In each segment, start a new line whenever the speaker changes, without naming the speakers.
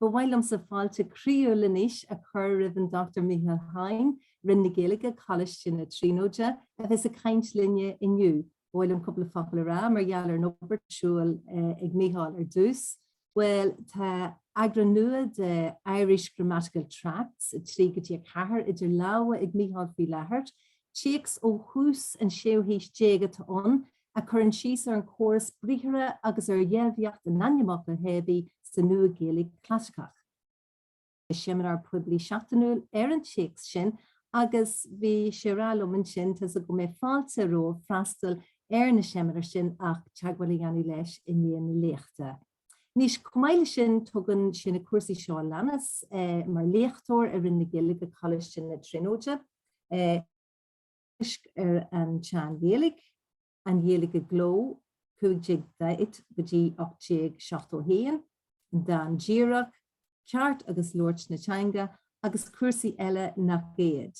Ba mhaith liomsa fáilte croíúil anois a chur roimh an Dr Mícheál Hoyne, Roinn na Gaeilge, Coláiste na Tríonóide, a bheas ag caint linne inniu. Ba mhaith liom cúpla focal a rá mar gheall ar an obair atá ar siúl ag Mícheál ar dtús. Bhuel, tá eagrán nua de Irish Grammatical Tracts 3 go dtí 4 idir lámha ag Mícheál faoi láthair. Téacs ó thús an séú haois déag atá ann, a chuireann síos ar an chóras briathartha agus ar dheilbhíocht an ainmfhocail theibí sa Nua-Ghaeilge Chlasaiceach. Bhí seimineár poiblí seachtainiúil ar an téacs sin agus bhí sé a rá liom ansin, Tá's agam go mbeidh fáilte romhaibh freastal ar na seimineáir sin ach teagmháil a dhéanamh leis i ndiaidh na léachta. Anois, chomh maith leis sin, tugann sé na cúrsaí seo a leanas, mar léachtóir i Roinn na Gaeilge, Coláiste na Tríonóide, teagaisc ar an tSean-Ghaeilge, an Ghaeilge i gcló, 1540 go dtí 1871, an dán díreach, ceart agus labhairt na teanga, agus cúrsaí eile nach iad.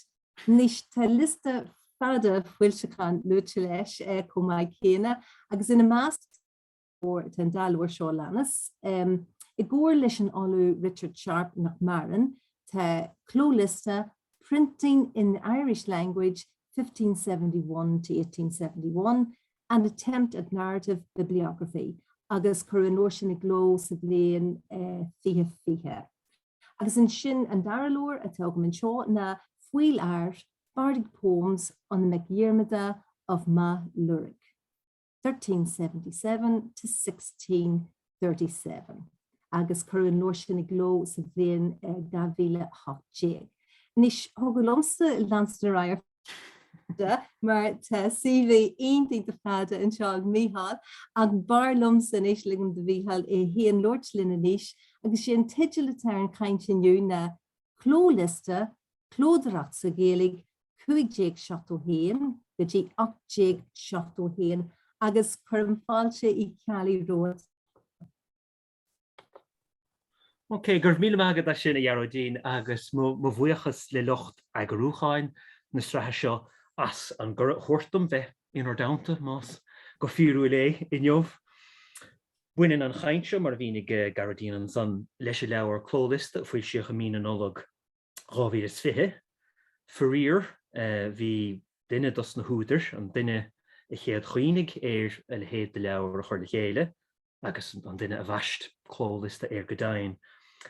Anois tá liosta fada foilseachán luaite leis chomh maith céanna, agus ina measc, Tá an dá leabhar seo a leanas, i gcomhar leis an Ollamh Richard Sharpe nach maireann, tá Clóliosta Printing in the Irish Language 1571 to 1871, An Attempt at Narrative Bibliography, agus cuireadh an leabhar sin i gcló sa bhliain 2020. Agus ansin an dara leabhar atá agam anseo ná Fuidheall Áir, Bardic Poems on the Meic Dhiarmada of Magh Luirg. 1377-1637, agus cuireadh an leabhar sin i gcló sa bhliain 2018. Anois, thiocfadh liomsa leanstan ar aghaidh, mar tá CV iontach fada anseo ag Mícheál, ach b'fhearr liomsa anois ligim do Mhícheál é féin labhairt linn anois, agus is é an teideal atá ar an chaint inniu ná, Clóliosta, Clódóireacht sa Ghaeilge, 1571 go dtí 1871 agus cuirim fáilte Uí Cheallaigh
romhat. Ok, go raibh míle maith agat as sin, a Ghearóidín, agus mo bhuíochas le lucht eagarúcháin na sraithe seo as an gcuireadh a thabhairt dom bheith in bhur dteannta, más go fíorúil é, inniu. Baineann an chaint seo, mar a mhínigh Gearóidín ansan, leis an leabhar, Clóliosta, a foilsíodh i mí na Nollag. 2020. Faraor, bhí duine dos na húdair, an duine a chéad chuimhnigh ar a leithéid de leabhar a chur le chéile, agus an duine a bhaist Clóliosta air go deimhin,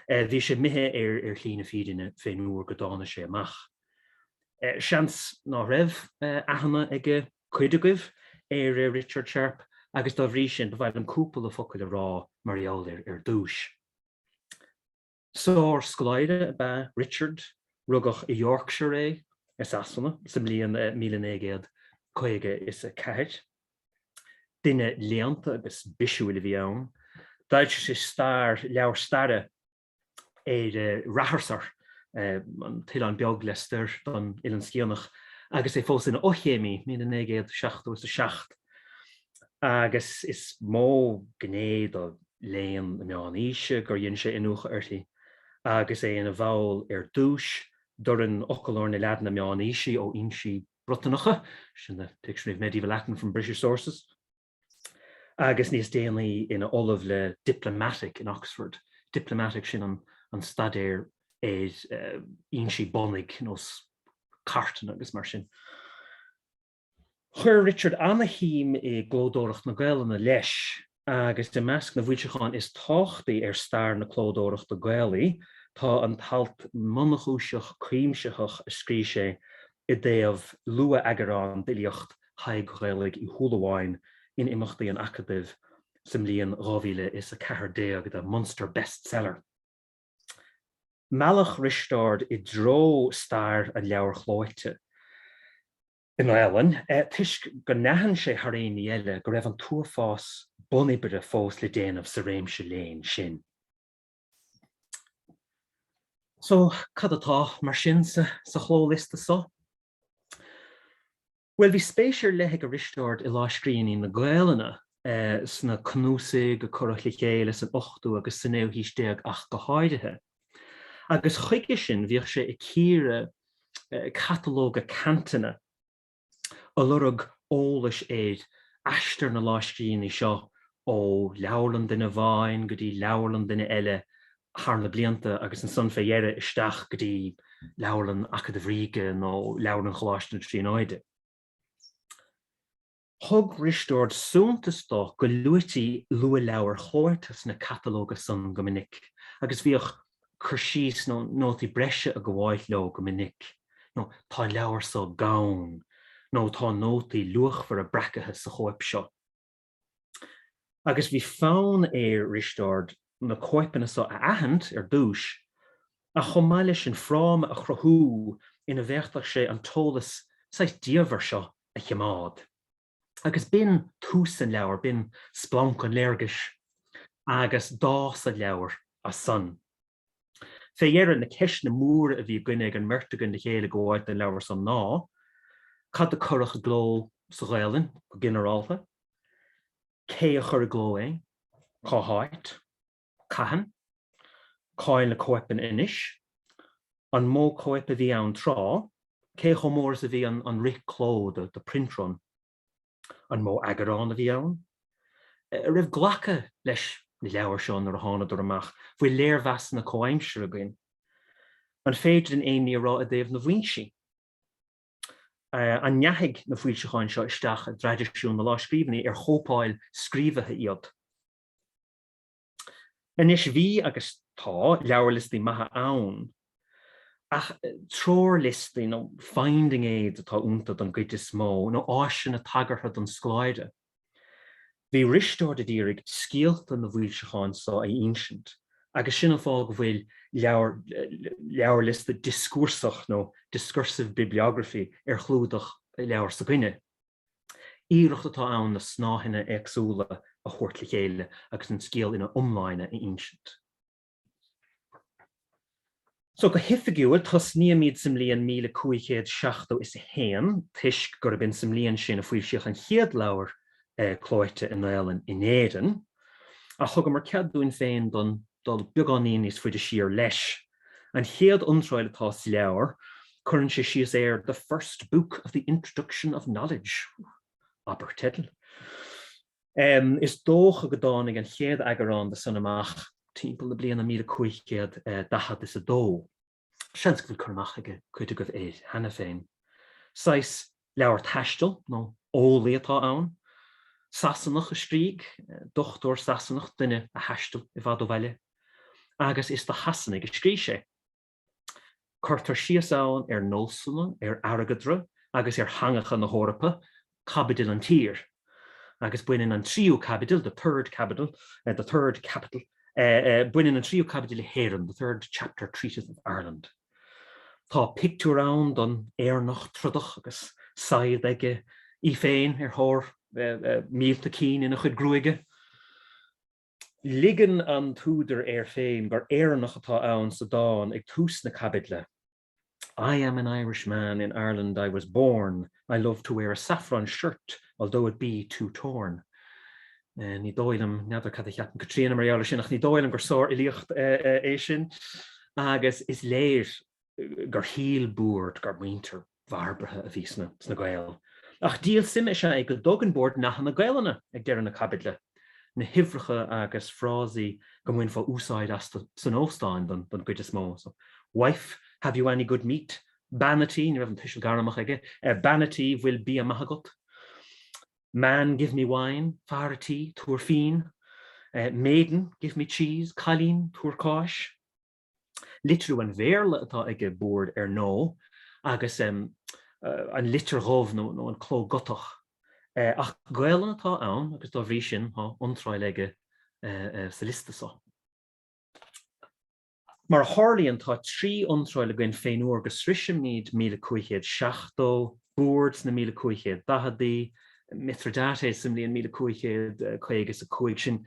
bhí sé imithe ar shlí na fírinne fén uair go dtáinig sé amach. Seans ná raibh aithne ag cuid agaibh ar Richard Sharpe, agus dá bhrí sin, ba mhaith liom cúpla focail a rá mar gheall air ar dtúis. Sárscoláire ab ea Richard, rugadh i Yorkshire é, i Sasana, sa mbliain míle naoi gcéad caoga is a ceathair. Duine léannta agus bisiúil a bhí ann. D'fhoilsigh sé leabhar staire, ar Ratharsair, an t-oileán beag lastoir don Oileán Sciathanach, agus é fós ina fhochéimí, míle naoi gcéad seachtó is a seacht. agus is mó gné do léann na Meán-Aoise gur dhein sé iniúchadh uirthi agus é ina bhall ar dtús d'fhoireann Fhoclóir na Laidine Meánaoisí ó fhoinsí Briotanacha, sin The Dictionary of Medieval Latin from British Sources, agus níos déanaí ina ollamh le Diplomatic in Oxford, Diplomatic, sin an staidéar ar fhoinsí bunaidh, nós cartanna agus mar sin. Chuir Richard an-shuim i gclódóireacht na Gaelainne, leis, agus i measc na bhfoilseachán is tábhachtaí ar stair na clódóireachta Gaelaí tá an t-alt mionchúiseach cuimsitheach a scrígh sé i dtaobh luath-eagarán d'fhilíocht Thaidhg Ghaelaigh Uí Shúilleabháin in imeachtaí an Acadaimh sa mbliain 2014 The Munster Bestseller! Mealladh Risteárd i dtreo stair an leabhair chlóite i nGaelainn, toisc gur aithin sé thar aon ní eile go raibh an t-uafás bun-oibre fós le déanamh sa réimse léinn sin. So, cad atá, mar sin, sa Chlóliosta so? Bhuel, bhí spéis ar leith ag Risteárd i lámhscríbhinní na Gaelainne sna cnuasaigh a cuireadh le chéile san ochtú agus sa naoú haois déag ach go háirithe. Agus chuige sin bhíodh sé ag cíoradh catalóga ceantanna ag lorg eolais ar aistear na lámhscríbhinní seo ó Leabharlann duine amháin go dtí Leabharlann duine eile thar na blianta agus ansan fé dheireadh isteach go dtí Leabharlann Acadamh Ríoga nó Leabharlann Choláiste na Tríonóide. Thug Risteárd suntas do go luaití luathleabhair chomh maith sna catalóga san go minic agus bhíodh cur síos nó nótaí breise ag gabháilt leo go minic nó 'Tá an leabhar so gann' nó 'Tá nótaí luachmhara breactha sa chóip seo'. agus bhí fonn air Risteárd na cóipeanna san a aithint ar dtúis, ach chomh maith le sin fráma a chruthú ina bhféadfadh sé an t-eolas saghas diamhair seo a chimeád. Agus b'in tús an leabhair, b'in splanc an léargais, agus d'fhás an leabhar as san. Fé dheireadh, na ceisteanna móra a bhí againne ag an mbeirt againn le chéile ag gabháilt don leabhar san ná, cad a cuireadh i gcló sa Ghaelainn go ginearálta, cé a chuir i gcló é, cá háit, cathain, cá'il na cóipeanna anois, an mó cóip a bhí ann tráth, cé chomh mór is a bhí an rith cló, the print run. An mó eagarán a bhí ann? An raibh glacadh leis na leabhair seo nuair a thánadar amach? Bhfuil léirmheasanna comhaimseartha againn? An féidir linn aon ní a rá i dtaobh na bhfoinsí? An ndeachaigh na foilseacháin seo isteach i dtraidisiún na lámhscríbhinní, ar chóipeáil scríobhaithe iad? Anois bhí, agus tá, leabharliostaí maithe ann, ach treoirliostaí nó finding aids atá ionta don gcuid is mó, nó áiseanna tagartha don scoláire. Bhí Risteárd a d'iarraidh scéalta na bhfoilseachán so a ínsint, agus sin an fáth go bhfuil leabharliosta dioscúrsach nó discursive bibliography ar chlúdach leabhair s'againne. Iarracht atá ann na snáitheanna éagsúla a thabhairt le chéile agus an scéal ina iomláine a insint. So, go hoifigiúil, tosnaímid sa mbliain míle cúig chéad seachtó is a haon, toisc gurb in sa mbliain sin a foilsíodh an chéad leabhar clóite i nGaelainn in Éirinn. Ach thugamar cead dúinn féin don. dul beagán níos faide siar leis. An chéad iontráil atá sa leabhar, cuireann sé síos ar the first book of the introduction of knowledge. Abair teideal. Is dócha go dtáinig an chéad eagarán de sin amach timpeall na bliana míle cúig chéad daichead is a dó. Seans go bhfuil cur amach ag cuid agaibh air cheana féin. Saghas leabhar taistil nó eolaí atá ann. Sasanach a scrígh, dochtúir Sasanach, duine a thaistil i bhfad ó bhaile. Agus is do Shasanaigh a scrígh sé. Cuirtear síos ann ar nósanna, ar airgeadra agus ar theangacha na hEorpa caibidil an tír, agus baineann an tríú caibidil, the third capital, the third capital, baineann an tríú caibidil le hÉirinn, the third chapter treateth of Ireland. Tá pictiúr ann don Éireannach trodach agus saighead aige í féin ar thóir míolta cinn ina chuid gruaige. Ligeann an t-údar air féin gur Éireannach atá ann sa dán ag tús na caibidle. I am an Irish man, in Ireland I was born, I love to wear a saffron shirt although it be too torn. Ní dóigh liom, n'fheadar cad a cheapann Caitríona mar gheall ar sin, ach ní dóigh liom gur sárfhilíocht é sin, agus is léir gur shíl Boorde gur muintir bharbartha a bhí sna Gaeil. Ach díol suime is ea é go dtugann Boorde nathanna Gaelainne ag deireadh na caibidle. na huimhreacha agus frásaí go mbainfeá úsáid astu san óstáin don gcuid is mó. So, Wife, have you any good meat? Bean a tí, ní raibh an tuiseal gairmeach aige, a bean a tí, bhfuil bia maith agat? Man, give me wine, Fear a tí, tabhair fíon. Maiden, give me cheese, Cailín, tabhair cáis. litriú an Bhéarla atá aige, Boorde, ar ndóigh, agus an litir dhubh nó an cló Gotach. Ach Gaelainn atá ann agus dá bhrí sin tá iontráil aige sa liosta seo. Mar a tharlaíonn tá trí iontráil againn fén uair go sroisimid míle cúig chéad seachtó, Boorde sna míle cúig chéad daicheadaí, Mithridates sa mbliain míle cúig chéad caoga is a cúig, sin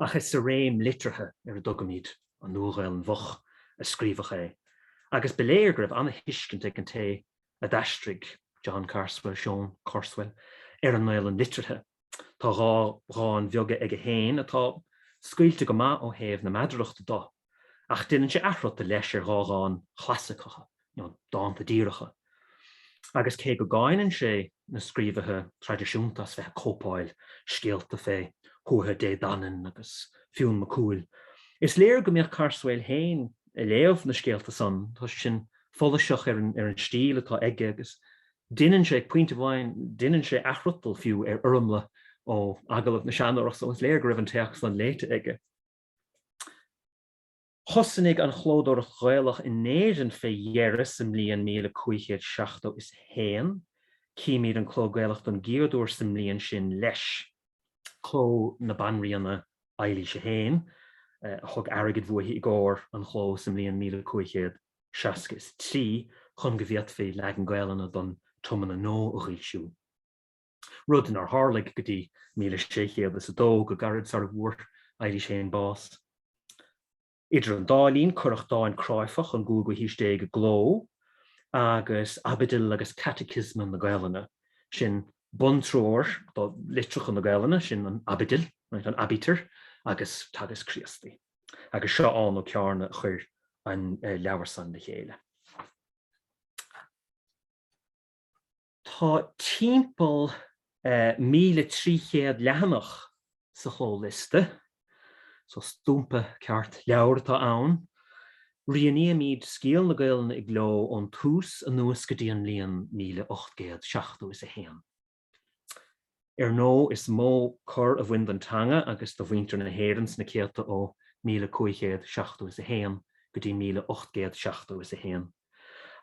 ach is sa réim liteartha ar a dtugaimid An Nua-Ghaelainn Mhoch a scríobhadh é, agus ba léir go raibh an-thuiscint ag an té a d'aistrigh, John Carswell, Seon Carswell, ar an nGaelainn liteartha. Tá dhá dhán bheaga aige féin atá scaoilte go maith ó thaobh na meadarachta de, ach deineann sé athfhriotal leis ar dhá dhán chlasaiceacha, nó dánta díreacha, agus cé go gcáineann sé na scríobhaithe traidisiúnta as bheith ag cóipeáil scéalta fé Thuatha Dé Danann agus Fionn Mac Cumhaill, is léir go mbíodh Carswell féin ag léamh na scéalta san, tá sé sin follasach ar an stíl atá aige agus deineann sé, ag pointe amháin, deineann sé athfhriotal fiú ar fhoirmle ó Agallamh na Seanórach, so is léir go raibh an téacs san léite aige. Thosnaigh an chlódóireacht Ghaelach in Éirinn fé dheireadh sa mbliain míle cúig chéad seachtó is a haon. Címid an cló Gaelach don gcéad uair sa mbliain sin leis. Cló na Banríona Eilís a haon a thug airgead bhuaithi i gcóir an chló sa mbliain míle cúig chéad seasca is a trí chun go bhféadfaí leagan Gaelainne don Tiomna Nua a dh'fhoilsiú. rud nár tharlaigh go dtí 1602 go gairid sar a bhfuair Eilís I bás. Idir an dá linn, cuireadh dán cráifeach ón gcúigiú haois déag i gcló, agus Aibidil agus Caiticiosma na Gaelainne. Sin buntreoir do litreacha na Gaelainne, sin an Aibidil, an Aibítir, agus Teagasc Críostaí. Agus Seán Ó Cearnaigh a chuir an leabhar san le chéile. Tá timpeall 1,300 leathanach sa Chlóliosta, so stumpa ceart leabhar atá ann. Rianaímid scéal na Gaelainne i gcló ón tús anuas go dtí an mbliain míle ocht gcéad seachtó is a haon. Ar ndóigh, is mó cor a bhain don teanga agus do mhuintir na hÉireann sna céadta ó míle cúig chéad seachtó is a haon go dtí míle ocht gcéad seachtó is a haon,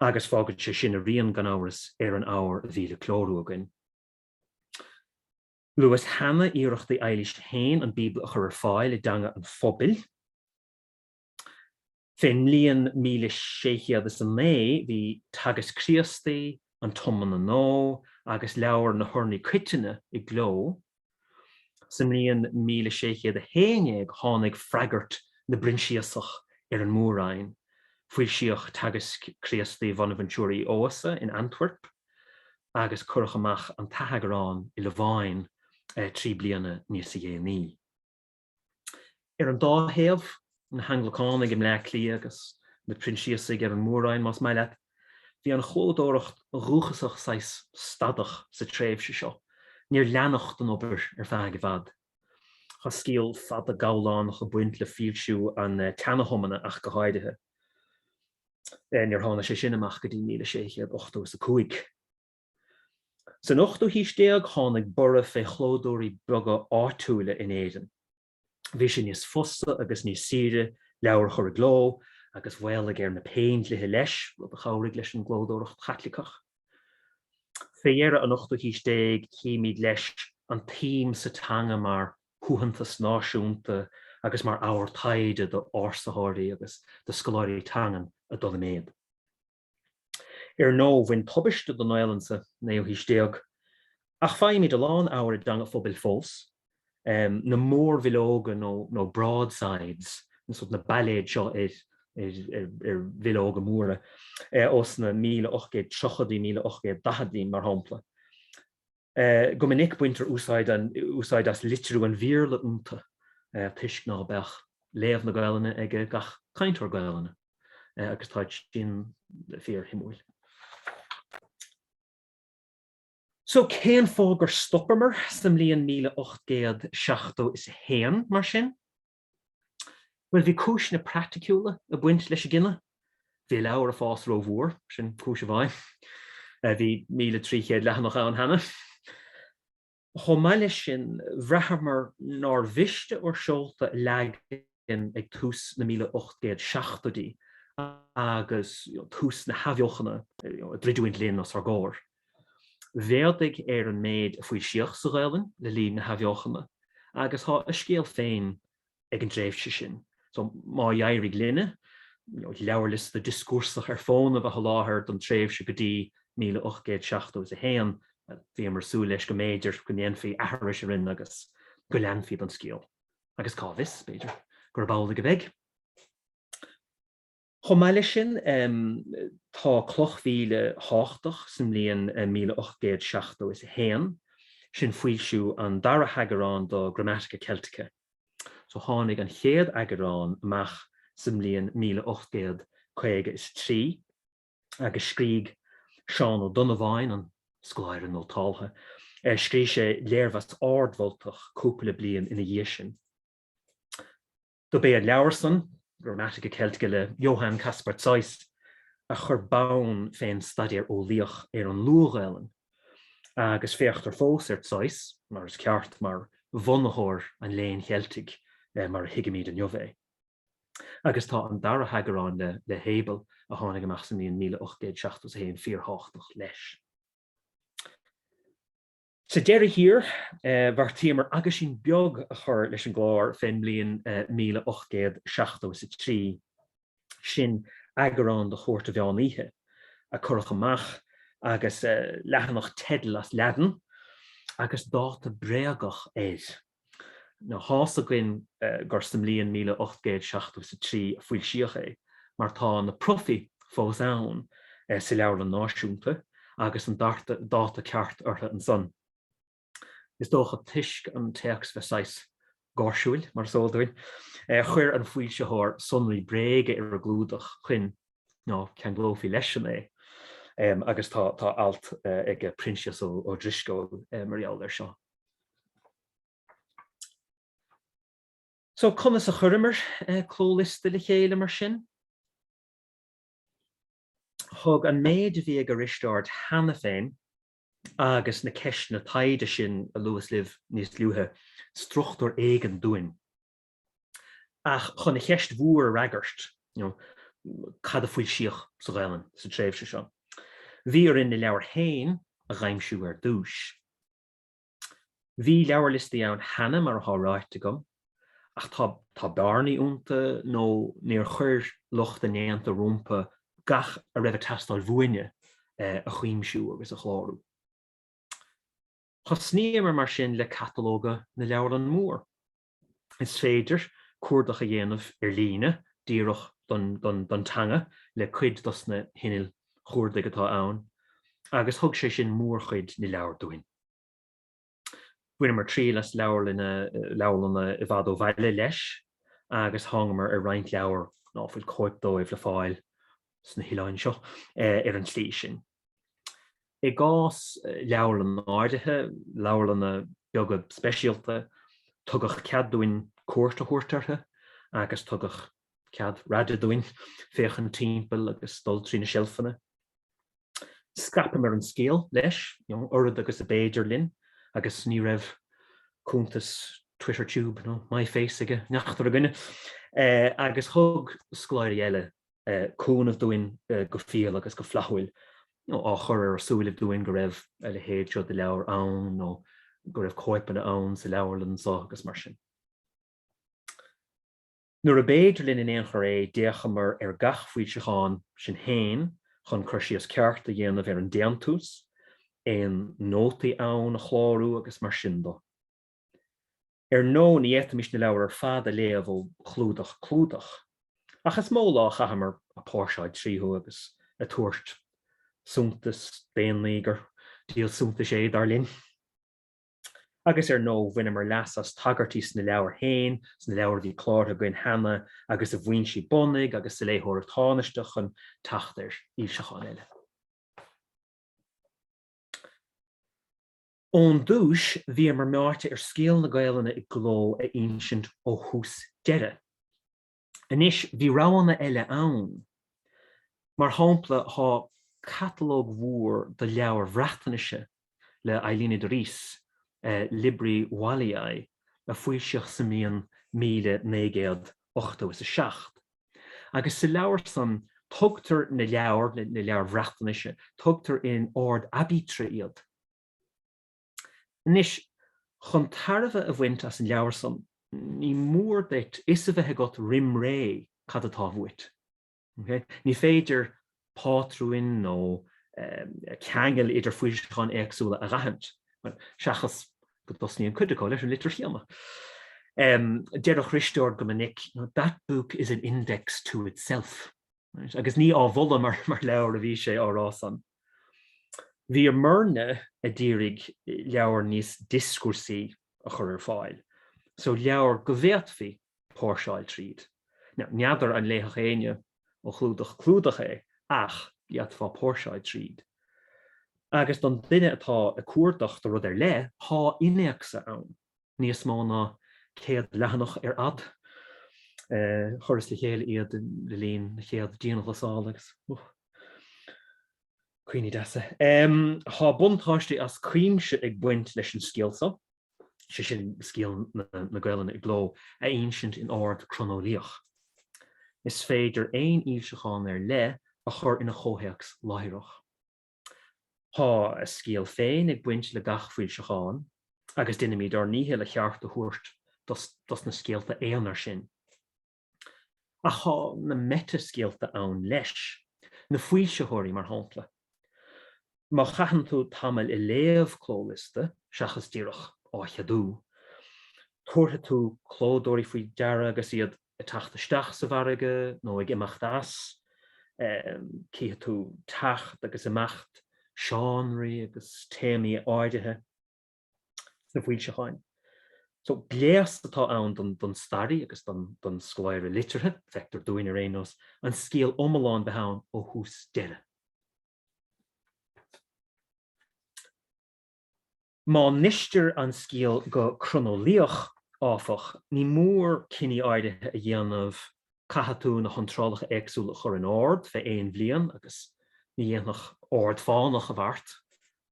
agus fágann sé sin a rian, gan amhras, ar an abhar a bhí le clárú againn. Luas cheana iarrachtaí Eilíse féin an Bíobla a chur ar fáil i dteanga an phobail. Fén mbliain míle sé chéad is a naoi bhí Teagasc Críostaí, an Tiomna Nua, agus Leabhar na hUrnaí Coitinne i gcló. Sa mbliain míle sé chéad a haon déag tháinig freagairt na bProinsiasach ar an Mór-Roinn. Foilsíodh Teagasc Críostaí Bhonabheintiúir Uí Eodhasa in Antwerp, agus cuireadh amach an t-atheagrán i Lováin trí bliana níosa dhéanaí. Ar an dá thaobh, na hAnglacánaigh i mBleá Cliath agus na Proinsiasaigh ar an Mór-Roinn, más maith leat. Bhí an chlódóireacht dhúchasach saghas stadach sa tréimhse seo, níor leanadh den obair ar feadh i bhfad. Tá scéal fada gabhlánach ag baint le foilsiú an tSeana-Thiomna ach go háirithe. Níor thána sé sin amach go dtí 1685. San ochtú haois déag tháinig borradh fé chlódóirí beaga áitiúla in Éirinn. Bhí sé níos fusa agus níos saoire leabhair a chur i gcló, agus mhaolaigh ar na péindlithe leis, rud a chabhraigh leis an gclódóireacht Chaitliceach. Fé dheireadh an ochtú haois déag chímíd leis an tsuim sa teanga mar shuaitheantas náisiúnta agus mar abhar taighde do ársaitheoirí agus do scoláirí teangan ag dul i méad. Ar ndóigh, bhain tubaiste don Ghaelainn sa naoú haois déag, ach faighimid a lán abhair i dteanga an phobail fós, na mórbhileoga nó broadsides, na bailéid seo ar bhileoga móra, ós na 1830idí, 1840idí, mar shampla. Go minic baintear úsáid as litriú an Bhéarla iontu toisc ná beadh léamh na Gaelainne ag gach cainteoir Gaelainne, agus táid sin fíor-shuimiúil. So, cén fáth gur stopamar sa mbliain míle ocht gcéad seachtó is a haon, mar sin? Bhuel, bhí cúiseanna praiticiúla ag baint leis an gcinneadh. Bhí an leabhar ag fás rómhór, sin cúis amháin, bhí 1,300 leathanach ann cheana. Chomh maith leis sin, bhraitheamar nár mhiste ár seolta a leagan ag tús na 1870idí agus tús na hathbheochana ag druidiúint linn os ár gcomhair. Mhéadaigh ar an méid a foilsíodh sa Ghaelainn le linn na hAthbheochana, agus tá a scéal féin ag an dtréimhse sin. So má d'éirigh linne leabharliosta dioscúrsach ar fónamh a sholáthar don tréimhse go dtí míle ocht gcéad seachtó is a haon, bhíomar ag súil leis go mb'fhéidir go ndéanfaí aithris orainn agus go leanfaí den scéal, agus cá bhfios, b'fhéidir, gurb amhlaidh a bheidh. Chomh maith leis sin, tá cloch mhíle tháchtach sa mbliain míle ocht gcéad seachtó is a haon, sin foilsiú an dara heagarán do Grammatica Celtica. So tháinig an chéad eagarán amach sa mbliain míle ocht gcéad caoga is a trí, agus scrígh Seán Ó Donnabháin, an scoláire nótáltha, scrígh sé léirmheas ardmholtach cúpla bliain ina dhiaidh sin. Dob é an leabhar san, Grammatica Celtica le Johann Kaspar Zeuss, a chuir bonn fén staidéar eolaíoch ar an Luath-Ghaelainn, agus féachtar fós ar Zeuss, mar is ceart, mar bhunaitheoir an Léinn Cheiltigh mar a thuigimid inniu é. Agus tá an dara heagarán le Hebel, a tháinig amach sa mbliain míle ocht gcéad seachtó 's a haon, fíortháchtach leis. Sa deireadh thiar, bheartaíomar aguisín beag a chur leis an gclár fén mbliain 1873, sin eagrán de Chúirt an Mheán Oíche, a cuireadh amach, agus leathanach teidil as Laidin agus dáta bréagach air. Now, tá's againn gur sa mbliain míle ocht gcéad seachtó is a trí a foilsíodh é, mar tá na profaí fós ann sa Leabharlann Náisiúnta, agus an dáta ceart orthu ansan, is dócha, toisc an téacs bheith saghas gáirsiúil, mar is eol dúinn. Chuir an foilsitheoir sonraí bréige ar an gclúdach, chun ná ceanglófaí leis-sean é, agus tá alt ag Proinsias Ó Drisceoil mar gheall air seo. So, conas a chuireamar clóliosta le chéile mar sin? Thug an méid a bhí ag Risteárd cheana féin agus na ceisteanna taighde sin a luas libh níos luaithe struchtúr éigin dúinn. Ach chun an cheist mhór a fhreagairt, you know, cad a foilsíodh sa Ghaelainn sa tréimhse seo? Bhí orainn na leabhair féin a dh'aimsiú ar dtúis. Bhí leabharliostaí ann cheana, mar atá ráite agam, ach tá bearnaí iontu nó níor chuir lucht a ndéanta rompu gach a raibh ag teastáil bhuainne a chuimsiú agus a chlárú. Thosnaíomar mar sin le catalóga na leabharlann mór. Is féidir cuardach a dhéanamh ar líne díreach don teanga le cuid dos na hinnill chuardaigh atá ann agus thug sé sin mórchuid na leabhar dúinn. Bhaineamar triail as leabharlainne leabharlanna i bhfad ó bhaile leis agus thángamar ar roinnt leabhar ná fuil cóip dóibh le fáil sna hoileáin seo ar an tslí sin. I gcás leabharlann áirithe, leabharlanna beaga speisialta, tugadh cead dúinn cuairt a thabhairt orthu agus tugadh cead raide dúinn féachaint timpeall agus dul trí na seilfeanna. Scaipeamar an scéal, leis, oiread agus ab fhéidir linn agus ní raibh cuntas Twitter Tube nó MyFace aige neachtar againne, agus thug scoláirí eile cúnamh dúinn go fial agus go flaithiúil, á chur ar ár súilibh dúinn go raibh a leithéid seo de leabhar ann nó go raibh cóipeanna ann sa leabharlainn seo agus mar sin. Nuair ab fhéidir linn in aon chor é, d'fhéachamar ar gach foilseachán, sinn féin, chun cur síos ceart a dhéanamh ar an déantús, aon nótaí ann a chlárú agus mar sin dó. Ar ndóigh, ní fhéadfaimis na leabhair ar fad a léamh ó chlúdach clúdach, ach is mó lá a chaitheamar ag póirseáil tríothu agus ag tabhairt suntas d'aon ní gur díol suntais é, dar linn. Agus ar ndóigh, bhaineamar leas as tagairtí sna leabhair féin, sna leabhair a bhí cláraithe againn cheana agus i bhfoinsí bunaidh agus sa léitheoireacht thánaisteach chun teacht ar fhoilseacháin eile. Ón dtúis, bhíomar meáite ar scéal na Gaelainne i gcló a insint ó thús deireadh. Anois, bhí roghanna eile ann. Mar shampla, tá catalóg mhór de leabhair Bhreatnaise le Eiluned Rees, Libri Walliae, a foilsíodh sa mbliain míle naoi gcéad ochtó is a seacht, agus sa leabhar san, tugtar na leabhair, na leabhair Bhreatnaise, tugtar in ord aibítre iad. Anois, chun tairbhe a bhaint as an leabhar san, ní mór duit 'fhios a bheith agat roim ré cad atá uait. Ní féidir pátrúin nó ceangail idir foilseacháin éagsúla a dh'aithint, seachas go dtosnaíonn cuid acu leis an litir chéanna. Deireadh Risteárd go minic, That book is an index to itself. Agus ní á mholadh mar leabhar a bhí sé, á rá san. Bhíomairne a d'iarraidh leabhar níos dioscúrsaí a chur ar fáil so, leabhar go bhféadfaí póirseáil tríd. N'fheadar an léifeadh éinne ó chlúdach clúdach é, ach d'fhéadfá póirseáil tríd. Agus don duine atá ag cuardach do rud ar leith, tá innéacsa ann. níos mó ná 100 leathanach ar fhad. Chuireas le chéile iad le linn na chéad dianghlasála agus. Cuimhní deasa. Tá buntáistí as cuimse ag baint leis an scéal seo, sé sin scéal na Gaelainne i gcló, a insint in ord croineolaíoch. Is féidir aon fhoilseachán ar leith a chur ina chomhthéacs láithreach. Tá a scéal féin ag baint le gach foilseachán agus déanaimid ár ndícheall a cheart a thabhairt dos na scéalta aonair sin. Ach tá na meitea-scéalta ann leis, na foilsitheoirí mar shampla. Má chaitheann tú tamall ag léamh clóliosta, seachas díreach á cheadú, tabharfaidh tú clódóirí faoi deara agus iad, ag teacht isteach sa bhfarraige nó ag imeacht as, cífidh tú teacht agus imeacht seánraí agus téamaí áirithe sna foilseacháin. So, gléas atá ann don staraí agus don scoláire liteartha, feictear dúinn, ar aon nós, an scéal iomlán bheith ann ó thús deireadh. Má insítear an scéal go croineolaíoch, áfach, ní mór cinní áirithe a dhéanamh, caithfidh tú na hiontrálacha éagsúla a chur in ord fé aon bhliain, agus ní dhéanfadh ord fánach an bheart,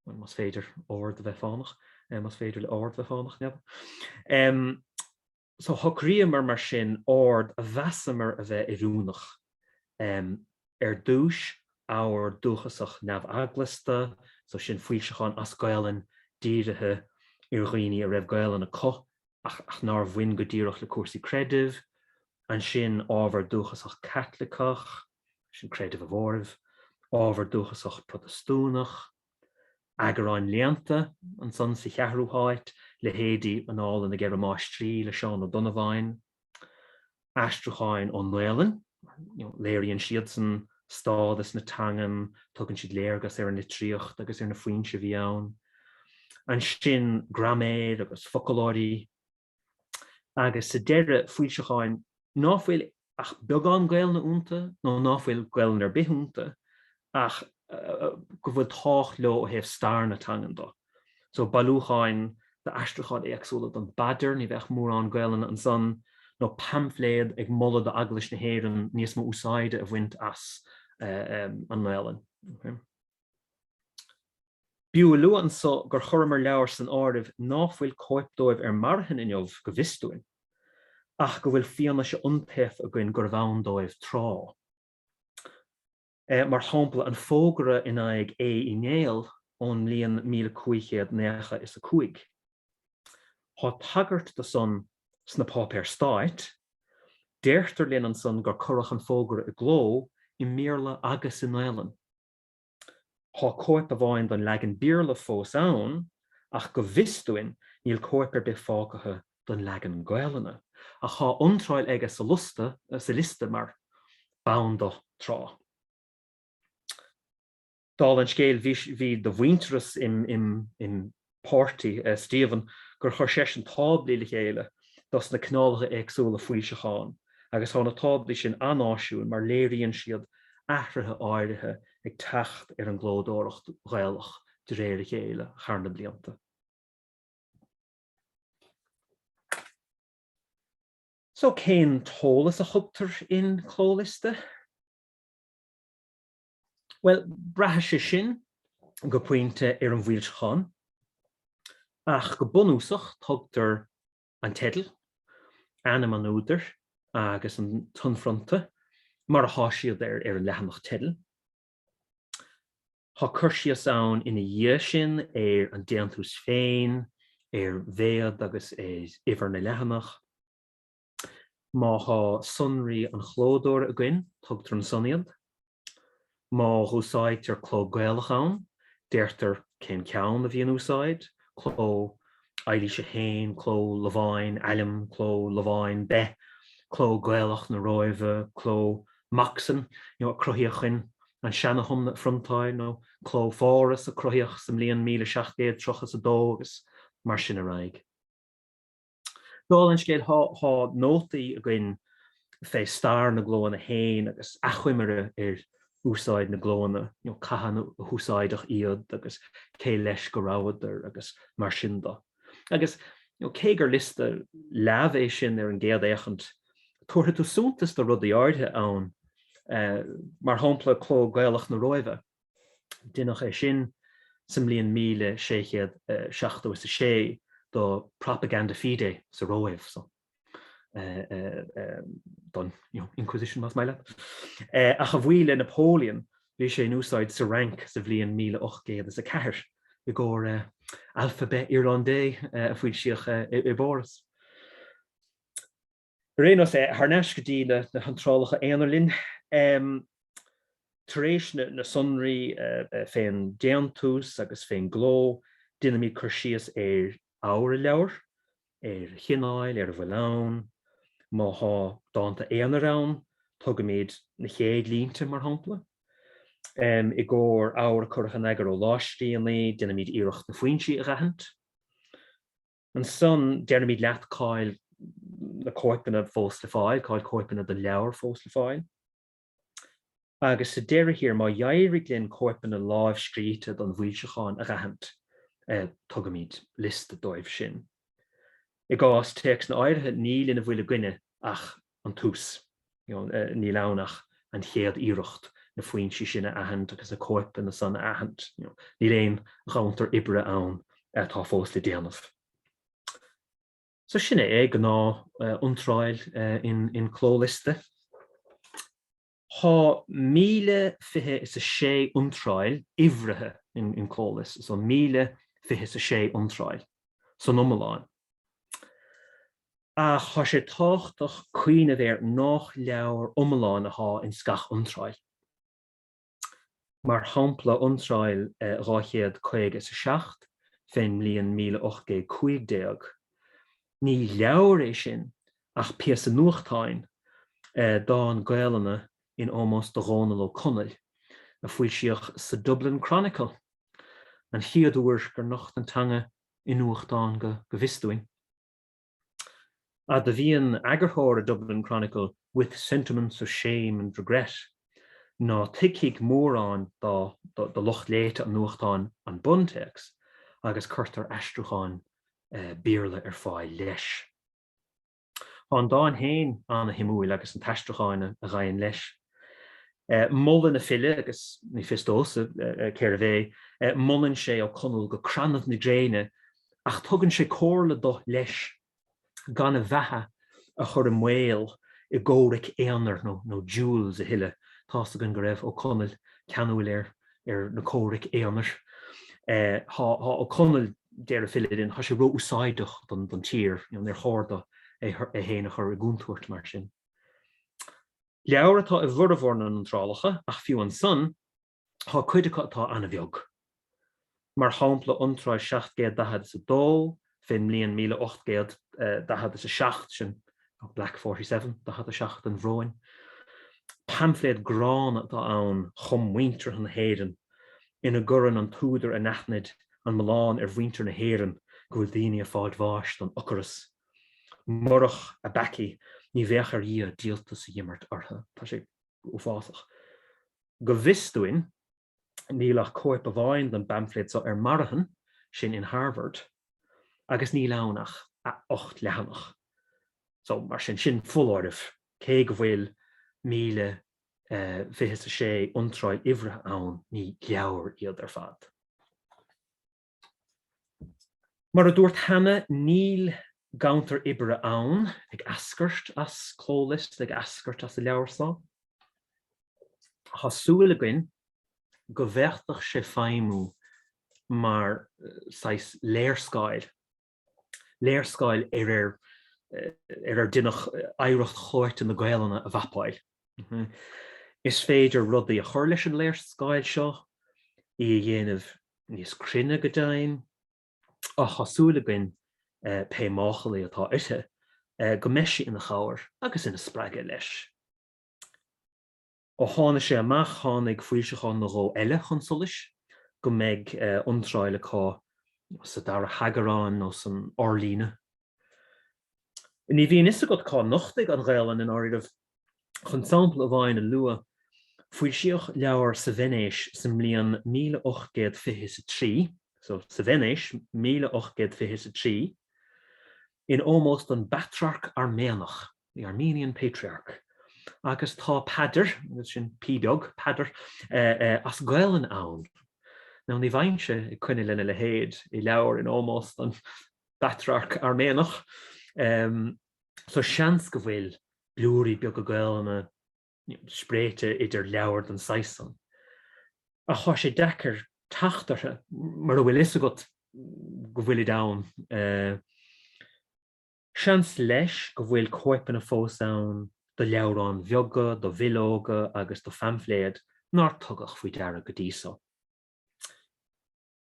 bhuel, más féidir ord a bheith fánach, más féidir le hord bheith fánach, n'fheadar. Shocraíomar mar sin ord a mheasamar a bheith oiriúnach, ar dtúis ábhar dúchasach neamh-eaglasta, so sin foilseacháin as Gaelainn dírithe ar dhaoine a raibh Gaelainn acu ach nár bhain go díreach le cúrsaí creidimh, ansin ábhar dúchasach Caitliceach, sin creideamh an mhóraimh, ábhar dúchasach Protastúnach, Eagráin léannta, ansan, sa cheathrú háit, leithéidí Annála na gCeithre Máistrí le Seán Ó Donnabháin, aistriúcháin ón nGaelainn, léiríonn siadsan stádas na teangan, tugann siad léargas ar an litríocht agus ar na foinsí a bhí ann. Ansin, graiméir agus foclóirí. agus sa deireadh foilseacháin ná fuil ach beagán Gaelainne iontu nó ná fuil Gaelainn ar bith iontu ach go bhfuil tábhacht leo ó thaobh stair na teangan de. So bailiúcháin d'aistriúcháin éagsúla den bPaidir, ní bheadh mórán Gaelainne ansan, nó paimfléad ag moladh d'Eaglais na hÉireann níos mó úsáide a bhaint as an nGaelainn. B'fhiú a lua anso gur chuireamar leabhair san áireamh ná fuil cóip dóibh ar marthain inniu, go bhfios dúinn, ach go bhfuil fianaise iontaofa againn gurbh ann dóibh tráth, mar shampla an fógra in aghaidh Aodh Uí Néill ón mbliain míle cúig chéad naocha is a cúig. Tá tagairt do san sna páipéir stáit. Deirtear linn ansan gur cuireadh an fógra i gcló i mBéarla agus i nGaelainn. Tá cóip amháin den leagan Béarla fós ann, ach go bhfios dúinn níl cóip ar bith fágtha den leagan Gaelainne, ach tá iontráil aige sa liosta, sa liosta mar, b'ann dó, tráth. Dála an scéil, bhí, bhí de mhuintearas im, im, im, páirtí, Stephen, gur chuir seisean táblaí le chéile dos na cineálacha éagsúla foilseachán agus tá na táblaí sin an-áisiúil mar léiríonn siad athruithe áirithe ag teacht ar an gclódóireacht Ghaelach de réir a chéile thar na blianta. So cén t-eolas a thugtar in Clóliosta? Bhuel, braitheann sé sin go pointe ar an bhfoilseachán, ach go bunúsach tugtar an teideal, ainm an údair agus an t-inphrionta mar a thá siad ar an leathanach teidil. Thá cur síos ann ina dhiaidh sin ar an déantús féin, ar mhéad agus ar uimhir na leathanach. Má thá sonraí an chlódóra againn, tugtar ansan iad. Má dh'úsáidtear cló Gaelach ann, deirtear cén ceann a bhí in úsáid, cló Eilís a hAon, cló Lováin, Ailm, cló Lováin, Beith, cló Gaelach na Róimhe, cló Moxon, a cruthaíodh chun an Seana-Thiomna a phriontáil, nó cló Pháras a cruthaíodh sa mbliain míle seacht gcéad tríocha 's a dó, agus mar sin ar aghaidh. Dála an scéil, tá nótaí againn fé stair na gclóanna féin agus achoimre ar úsáid na gclóanna, cathain a húsáideach iad agus cé leis go rabhadar agus mar sin de. Agus cé gur liosta leamh é sin ar an gcéad fhéachaint, tabharfaidh tú suntas do rudaí áirithe ann, mar shampla, Cló Gaelach na Róimhe. Deineadh é sin sa mbliain míle sé chéad seachtó is a sé do Propaganda Fide sa Róimh, so don Inquisition más maith leat, ach a bhuí le Napoleon bhí sé in úsáid sa Fhrainc sa bhliain míle ocht gcéad is a ceathair i gcomhair Alphabet Irlandais a foilsíodh i bPáras. Ar aon nós, thar n-ais go dtí na hiontrálacha aonair linn. Tar éis na sonraí fén déantús agus fén gcló, déanaimid cur síos ar abhar an leabhair, ar a chineáil, ar a bhfuil ann. Má thá dánta aonair ann, tugaimid na chéad línte, mar shampla. I gcóir abhar a cuireadh in eagar ó lámhscríbhinní, déanaimid iarracht na foinsí a dh'aithint. Ansan deirimid leat cáil na cóipeanna fós le fáil, cáil cóipeanna do leabhar fós le fáil. Agus sa deireadh thiar, má d'éirigh linn cóipeanna láimhscríte don bhfoilseachán a dh'aithint, tugaimid liosta dóibh sin. I gcás téacsanna áirithe, níl ina bhfuil againne ach an tús. Níl ann ach an chéad iarracht na foinsí sin a aithint agus na cóipeanna san a aithint. Níl aon ghanntar oibre ann atá fós le déanamh. So sin é é, gnáth iontráil in Clóliosta. Thá 1020 is 6 iontráil uimhrithe in Clóliosta, so 1020 is 6 iontráil san iomlán, ach tá sé tábhachtach cuimhneamh air nách leabhar iomlán athá ins gach iontráil. mar shampla iontráil 250 is 7 fén mbliain 1815. Ní leabhar é sin ach píosa nuachtáin, dán Gaolainne in ómós do Dhónall Ó Conaill, a foilsíodh sa Dublin Chronicle, an chéad uair gur nocht an teanga i nuachtán, go bhfios dúinn. Admhaíonn eagarthóir an Dublin Chronicle 'with sentiments of shame and regret', ná tuigfidh mórán de lucht léite an nuachtáin an buntéacs, agus cuirtear aistriúchán Béarla ar fáil leis. Tá an dán féin ana-shuimiúil agus an t-aistriúchán a ghabhann leis. Molann an file, agus ní fios domhsa cérbh é, molann sé Ó Conaill go crannaibh na gréine Ach tugann sé comhairle do, leis, gan a bheatha a chur i mbaol i gcomhraic aonair nó nó duels a thuilleadh. Tá's againn go raibh Ó Conaill ceanúil ar ar na comhraic aonair. Tá tá Ó Conaill, deir an file linn, tá sé ró-úsáideach don don tír, you know, níor cheart do é é fhéin a chur i gcúntúirt mar sin. Leabhar atá i bhfurmhór na n-iontrálacha, ach fiú ansan, Tá cuid acu atá an-bheag, mar shampla iontráil seacht gcéad daichead is a dó fén mbliain míle ocht gcéad daichead is a seacht, sin Black Forty Seven, daichead a seacht an bhróin. Paimfléad gránna atá ann chum muinteartha na hÉireann ina gcuireann an t-údar anaithnid an milleán ar mhuintir na hÉireann go bhfuil daoine ag fáilt bháis don ocaras. Murach a bpeacaí ní bheadh ar Dhia díoltas a dh'imirt orthu. Tá sé uafásach. Go bhfios dúinn, níl ach cóip amháin den bpaimfléad so ar marthain, sin in Harvard, agus níl ann ach a ocht leathanach. So, mar sin, sin foláireamh, cé go bhfuil míle fiche is a sé iontráil uimhrithe ann, ní leabhair iad ar fad. Mar a dúirt cheana, níl ganntar oibre ann, ag eascairt as Clóliosta, ag eascairt as an leabhar so. Tá súil againn go bhféadfadh sé feidhmiú mar saghas léarscáil. léarscáil ar ar ar ar deineadh oidhreacht chlóite na Gaelainne a mhapáil. Is féidir rudaí a chur leis an léarscáil seo, í a dhéanamh níos cruinne go deimhin, ach tá súil againn, pé máchailí atá inti, go mbeidh sí ina chabhair agus ina spreagadh leis. Ó tháinig sé amach tháinig foilseachán nó dhó eile chun solais, go mbeidh iontráil acu sa dara heagrán nó san fhorlíonadh. Ní bhíonn fhios agat cá nochtfaidh an Ghaelainn i ndáiríribh. Chun sampla amháin a lua, foilsíodh leabhar sa Veinéis sa mbliain míle ocht gcéad fiche is a trí, so, sa Veinéis, míle ocht gcéad fiche is a trí, in ómós don bPatrarc Airméanach. the Armenian Patriarch, agus tá paidir, agus sin p beag, paidir, as Gaelainn ann. Now ní bheinnse ag coinne lena leithéid i leabhar in ómós don bPatrarc Airméanach, so seans go bhfuil blúirí beaga Gaelainne spréite idir leabhair den saghas san. Ach tá sé deacair teacht orthu, mura bhfuil fhios agat go bhfuilid ann. Seans leis go bhfuil cóipeanna fós ann de leabhráin bheaga, de bhileoga agus de phaimfléad nár tugadh faoi deara go dtí so.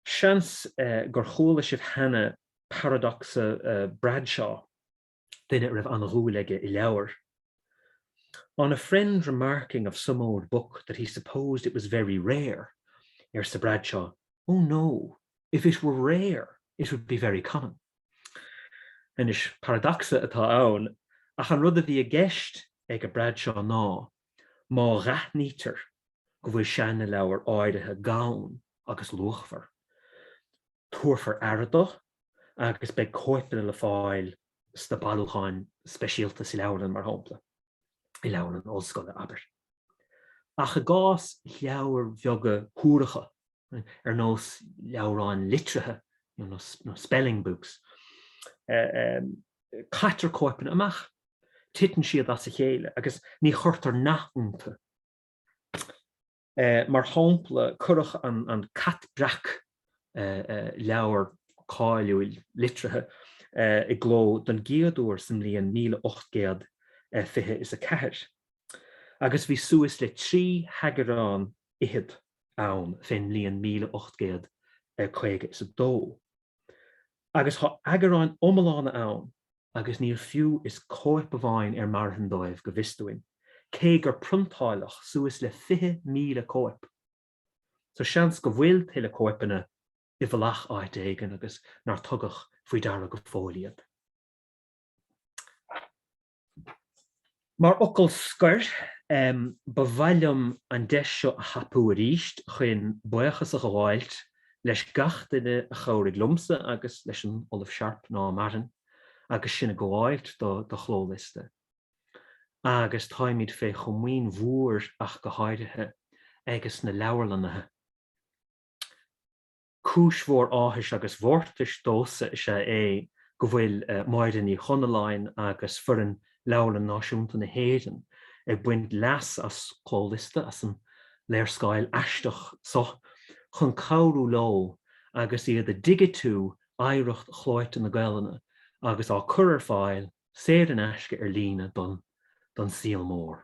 Seans gur chuala sibh cheana paradacsa Bradshaw, duine a raibh an-dhúil aige i leabhair. On a friend remarking of some old book that he supposed it was very rare, arsa Bradshaw, oh no, if it were rare, it would be very common. Anois, paradacsa atá ann, ach an rud a bhí i gceist ag a Bradshaw ná, má aithnítear go bhfuil seanleabhar áirithe gann agus luachmhar, tabharfar aire do agus beidh cóipeanna le fáil sna bailiúcháin speisialta sa leabharlann, mar shampla, i leabharlann ollscoile, abair. Ach i gcás leabhair bheaga shuaracha, ar nós leabhráin litrithe nó spelling books, caitear cóipeanna amach, titeann siad as a chéile agus ní chuirtear nath iontu. Mar shampla, cuireadh an Cat Breac, leabhar cáiliúil litrithe, i gcló don gcéad uair sa mbliain míle ocht gcéad fiche is a ceathair, agus bhí suas le trí heagrán fhichead ann fén mbliain míle ocht gcéad caoga is a dó, agus tá eagráin iomlána ann agus níl fiú is cóip amháin ar marthain dóibh go bhfios dúinn, cé gur priontáileadh suas le 20,000 cóip. So seans go bhfuil tuilleadh cóipeanna i bhfolach áit éigin agus nár tugadh faoi deara go fóill iad. Mar fhocal scoir, ba mhaith liom an deis seo a thapú arís chuin buíochas a ghabháilt leis gach duine a chabhraigh liomsa agus leis an Ollamh Sharp, ná maireann, agus sinn ag gabháilt do Chlóliosta. Agus táimid fé chomaoin mhór ach go háirithe, ages na leabharlannaithe. Cúis mhór áthais agus mhórtais domhsa is ea é go bhfuil Máire Ní Chonalláin agus foireann Leabharlann Náisiúnta na hÉireann ag baint leas as Clóliosta as an léarscáil aisteach so chun cabhrú leo agus iad ag digitiú oidhreacht chlóite na Gaelainne agus á cur ar fáil saor in aisce ar líne don saol mór.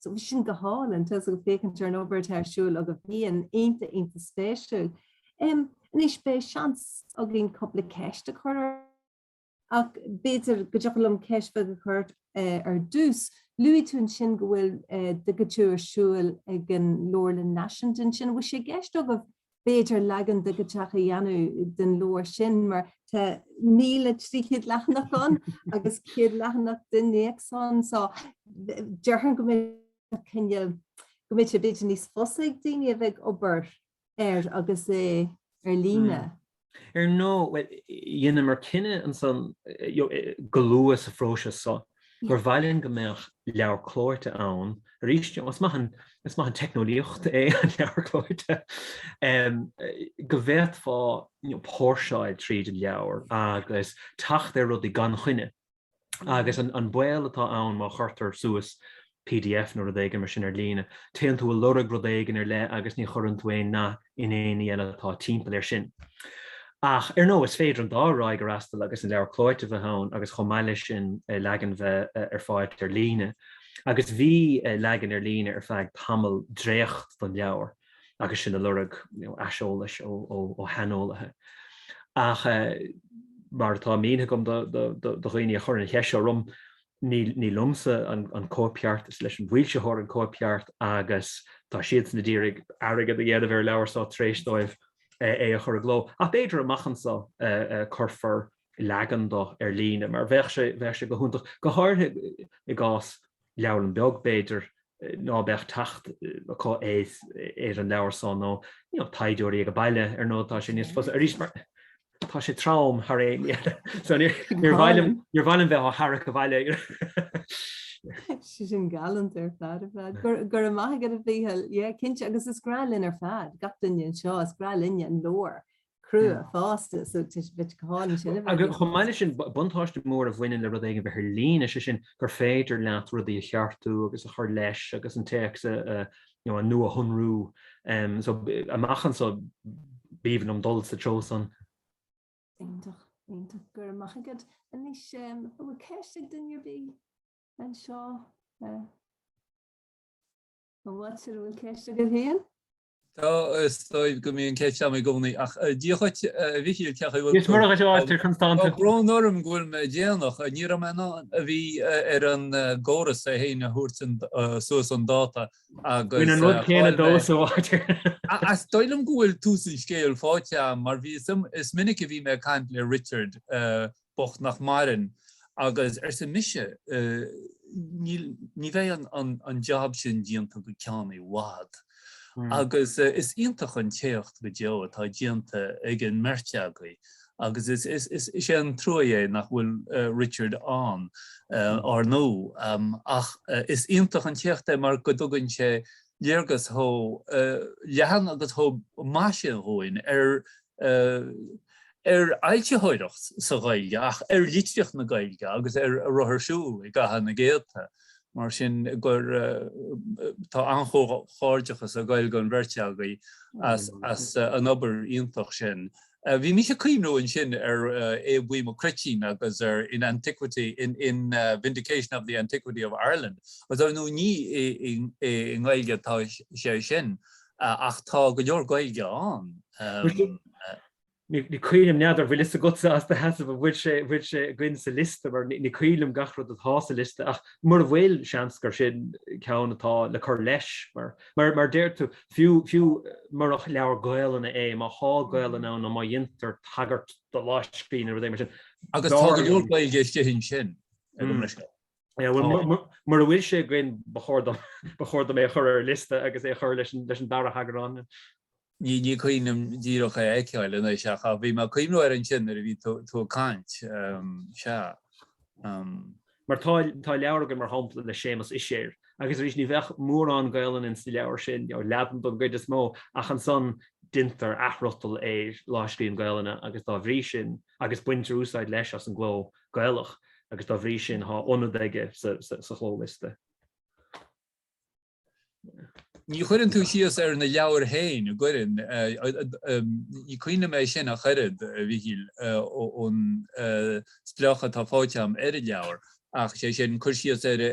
So bhí sin go hálainn, tús ag féachaint ar an obair atá ar siúl agat, bhí sé iontach, iontach spéisiúil. Em, anois beidh seans againn cúpla ceist a chur ort, ach b'fhéidir go dtiocfadh liom ceist bheag a chur ort ar dtús. Luaigh tú ansin go bhfuil digitiú ar siúl ag an Leabharlann Náisiúnta ansin, an bhfuil sé i gceist agaibh b'fhéidir leagan digiteach a dhéanamh den leabhar sin mar tá míle trí chéad leathanach ann agus céad leathanach d'innéacs ann so déarfainn go mbeidh cineál go mbeidh sé b'fhéidir níos fusa ag daoine a bheith ag obair air agus é ar líne. Hmm. Ar
ndóigh, bhuel, dheineamar cinneadh ansan go luath sa phróiseas so, gur mhaith linn go mbeadh leabhar clóite ann arís, you know, is maith an teicneolaíocht é an leabhar clóite, go bhféadfá, you know, póirseáil tríd an leabhar agus teacht ar rudaí gan choinne. Agus an baol atá ann má chuirtear suas, Pdf nó rud éigin mar sin ar líne. Téann tú ag lorg rud éigin ar leith agus ní chuireann tú aon nath in aon ní eile atá timpeall air sin. Ach ar ndóigh, is féidir an dá thrá a fhreastal agus an leabhar clóite a bheith ann agus chomh maith leis sin leagan bheith ar fáil ar líne. Agus bhí leagan ar líne ar feadh tamall, dréacht den leabhar agus sinn ag lorg aiseolais ó shaineolaithe. Ach mar atá mínithe agam do dhaoine a chuireann an cheist seo orm, ní liomsa an cóipcheart, is leis an bhfoilsitheoir an cóipcheart agus tá siadsan ag iarraidh airgead a dhéanamh ar an leabhar san tar éis dóibh é a chur i gcló. Ach b'fhéidir amach anso go cuirfear leagan do ar líne mar bheadh sé go hiontach, go háirithe i gcás leabharlanna beaga b'fhéidir, ná beadh teacht acu ar an leabhar so, nó taighdeoirí ag baile, ar ndóigh, tá sé níos fusa, arís, mar tá sé trom thar aon ní eile, so níor mhaith liom, níor mhaith liom bheith á tharrac
abhaile. sin galant ar fad ar fad. Go raibh, go raibh maith agat a Mhichíl, yeah, cinnte agus is grá linn ar fad, gach duine anseo is grá linne an leabhar. crua, fásta, so bheadh go hálainn sin a bheith. Agus chomh maith leis sin,
buntáiste mór a bhaineann le rud éigin a bheith ar líne, sé sin gur féidir leat rudaí a cheartú agus a chur leis agus an téacs a, you know, a nuashonrú. So, amach anso, b'aoibhinn liom dul sa treo san. Iontach,
iontach. Go raibh maith agat. Anois, an bhfuil ceist ag duine ar bith anseo? An bhfuil, sir, an bhfuil ceist agat féin? Tá,
is dóigh go mbíonn ceist agam i gcónaí, ach dia dhuit, a Mhichíl, ceapaim go bhfuil tú. Is murach is áit
ar constanta. Tá brón orm go bhfuil mé
déanach, ní raibh mé in ann bhí ar an gcóras é féin a thabhairt suas chun dáta agus Bíonn an rud céanna
dó sa bhád ar an. Is dóigh liom
go bhfuil tús an scéil faighte agam, mar bhí, is minic a bhí mé ag caint le Richard, bocht nach maireann, agus arsa mise, ní bheidh an jab sin déanta go ceann i bhfad, agus is iontach an t-éacht go deo atá déanta ag an mbeirt agaibh, agus is é an trua é nach bhfuil Richard ann, ár ndú, ach is iontach an t-éacht é mar go dtugann sé léargas chomh leathan agus chomh maith sin dhúinn ar ar fhoilsitheoireacht sa Ghaeilge, ach ar litríocht na Gaeilge agus ar a raibh ar siúl i gcaitheamh na gcéadta. Mar sin, tá an-chomhghairdeachas ag gabháil don bheirt agaibh as an obair iontach sin. Bhí mise ag cuimhneamh ansin ar Aodh Buí Mac Cruitín agus ar In Antiquity, in Vindication of the Antiquity of Ireland, agus dar ndóigh ní i nGaeilge atá sé sin. Ach tá go leor
Gaeilge ann. Ní cuimhin liom, n'fheadar an bhfuil a fhios agatsa as do sheasamh an bhfuil sé bhfuil sé againn sa liosta mar ní cuimhin liom gach rud atá sa liosta ach mura bhfuil, seans gur sin ceann atá le cur leis mar mar mar a deir tú, fiú fiú murach leabhar Gaelainne é, má thá Gaelainn ann nó má dhéantar tagairt do láimhscríbhinn nó rud éigin mar sin. Agus tá go leor
Gaeilge istigh ansin, ag an mbriscoir.
Mura bhfuil sé againn ba chóir dom é a chur ar an liosta agus é a chur leis an dara heagrán. Ní
cuimhin liom díreach é a fheiceáil anois ach bhí mé ag cuimhneamh air ansin nuair a bhí tú ag caint, sea.
Mar tá leabhar againn mar shampla le Séamas Uiséir agus arís ní bheadh mórán Gaelainne ins an leabhar sin, Laidean don gcuid is mó, ach ansan déantar athfhriotal ar lámhscríbhinn Gaelainne, agus dá bhrí sin, agus baintear úsáid, leis, as an gcló Gaelach agus dá bhrí sin tá ionad aige sa
chlóliosta. Ní chuireann tú síos ar na leabhair féin, an gcuireann? Ní cuimhin liom é sin ach oiread, a Mhichíl, ón spleáchadh atá faighte agam ar an leabhar, ach is é sin, cur síos ar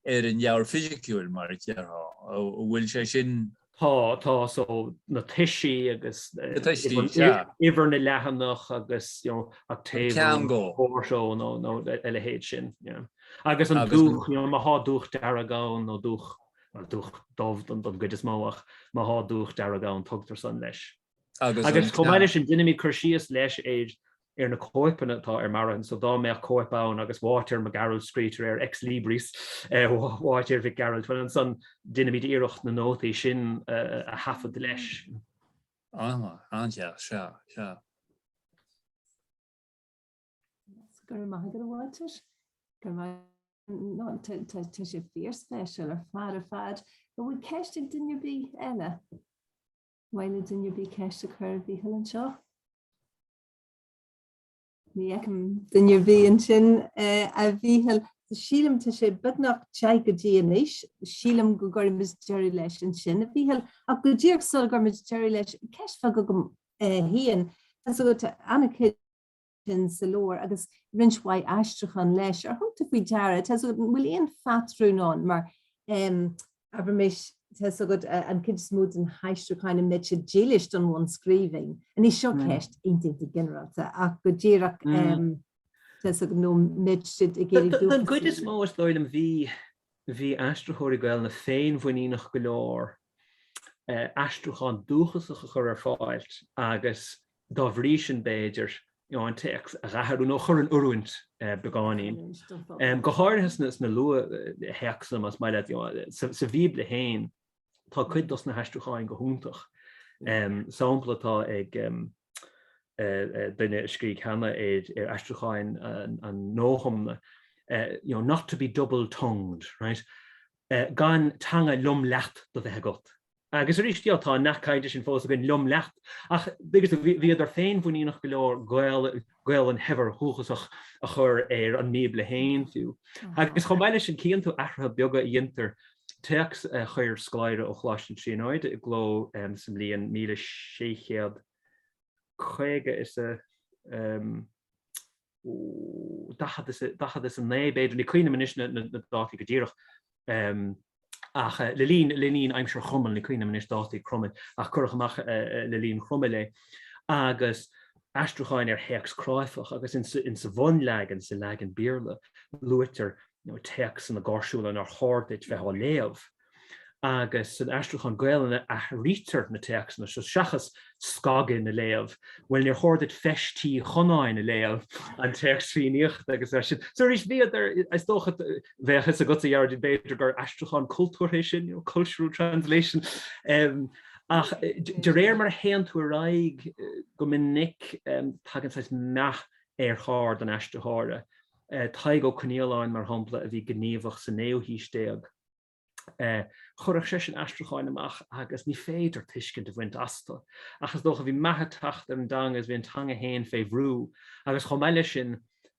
ar an leabhar fisiciúil, mar a déarfá, an bhfuil sé sin. Tá, tá,
so na toisí agus. Na toisí, yeah. Uimhir na leathanach agus you know octavo nó quarto nó a leithéid sin, yeah. Agus an dúch, you know má thá dúch dearg ann nó dúch, dúch dubh don gcuid is mó ach má thá dúch dearg ann tugtar san leis. Agus chomh maith leis sin, deinimid cur síos leis ar na cóipeanna atá ar marthain, so dá mbeadh cóip ann agus Uáitéar Mac Gearailt scríte air ex libris Uáitéir Mhic Gearailt, bhuel ansan deinimid iarracht na nótaí sin a thaifead leis. An-mhaith,
an-deas, sea,
sea. Go raibh maith agat a Uáitéir. Go raibh maith no tá sé fíorspéisiúil ar fad ar fad. An bhfuil ceist ag duine ar bith eile? Mhaith le duine ar bith ceist a chur ar Mhícheál anseo. Ní fheicim duine ar bith ansin, a Mhíchíl. Sílim tá sé beagnach ag teacht go dtí anois. Sílim go gcuirfidh muid deireadh leis ansin, a Mhíchíl. Ach go díreach sula gcuirfidh muid deireadh leis, ceist bheag agam féin. Tá suim agat sin sa leabhar, agus roinnt mhaith aistriúchán leis. Ar thug tú faoi deara, tá 's agat, an bhfuil aon phatrún ann, mar, abraimis, tá 's agat, an chuid is mó des na haistriúcháin, an mbeidh siad dílis don bhunscríbhinn? Anois seo ceist iontach ginearálta, ach go díreach, tá 's agat, nó an mbeidh siad ag iarraidh dúchasaigh? Don
gcuid is mó, is dóigh liom, bhí, bhí aistritheoirí Gaelainne féinmhuiníneach go leor aistriúchán dúchasach a chur ar fáil agus, dá bhrí sin b'fhéidir an téacs a athrú nó a chur in oiriúint beagáinín, go háirithe sna luath-théacsanna más maith leat. Sa Bhíobla féin tá cuid dos na haistriúcháín go hiontach. Sampla atá ag duine a scrígh cheana ar aistriúcháín an Dónallaigh, you know, not to be double-tongued, right? gan teanga liom leat do bheith agat. Agus arís, tá an nath cainte sin fós againn, liom leat, ach bhíodar féinmhuiníneach go leor Gaolainn shaibhir dhúchasach a chur ar an mBíobla féin fiú. Agus chomh maith leis sin, cíonn tú athruithe beaga a dhéantar, téacs a chuir scoláire ó Choláiste na Tríonóide i gcló sa mbliain míle sé chéad caoga is a, 40 is 9 b'fhéidir, ní cuimhnim anois na dátaí go díreach, ach le linn, le linn aimsir Chromail, ní cuimhnim anois dátaí Cromail, ach cuireadh amach le linn Chromail é, agus aistriúcháin ar théacs cráifeach, agus in sa bhunleagan, sa leagan Béarla, luaitear, you know, téacsanna gáirsiúla nár chóir duit bheith á léamh. agus san aistriúchán Gaelainne athraítear na téacsanna seo seachas scagadh na léamh, bhuel níor chóir duit Feis Tí Chonáin a léamh, an téacs Fiannaíochta agus mar sin. So arís bhíodar, is dócha, bheadh fhios agatsa a Ghearóidín b'fhéidir gur aistriúchán cultúrtha é sin, you know, cultural translation em ach de réir mar a théann tú ar aghaidh go minic em tagann saghas meath ar cheard an aistritheora, Tadhg Ó Coinnialláin mar shampla a bhí gníomhach sa naoú haois déag. Chuirfeadh sé sin aistriúcháin amach agus ní féidir tuiscint a bhaint astu. Ach is dócha, bhí meath ag teacht ar an dteanga agus bhí an teanga féin fé bhrú agus chomh maith leis sin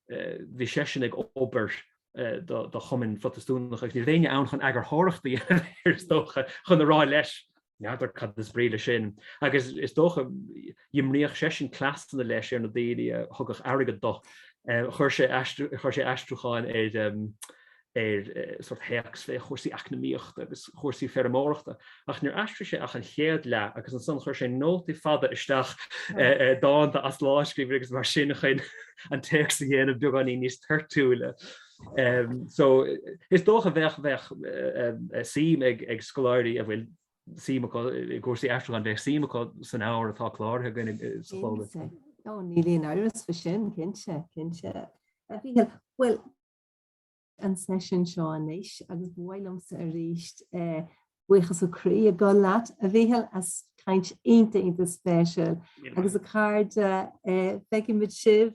bhí seisean ag obair do chumainn Phrotastúnacha agus ní raibh éinne ann chun eagarthóireacht a dhéanamh air is dócha, chun a rá leis N'fheadar cad is brí leis sin, agus is dócha d'imríodh seisean cleasanna leis ar na daoine a thugadh airgead dó. Chuir sé chuir sé aistriúcháin ar sórt théacs fé chúrsaí eacnamaíochta agus chúrsaí feirmeoireachta, ach níor aistrigh sé ach an chéad leath, agus ansan chuir sé nótaí fada isteach, dánta as lámhscríbhinní agus mar sin chun an téacs a dhéanamh beagáinín níos toirtiúla. So, is dócha bheadh, bheadh suim ag, ag scoláirí a bhfuil suim acu i gcúrsaí aistriúcháin, bheadh suim acu san ábhar atá cláraithe againn sa chomhlacht. Cinnte. Ó, níl
aon amhras faoi sin, cinnte, cinnte. Mhícheál, bhuel, an seisiún seo anois agus ba mhaith liomsa arís buíochas ó chroí a ghabháil leat, a Mhícheál, as caint iontach, iontach spéisiúil. Míle maith. Agus a chairde, feicfimid sibh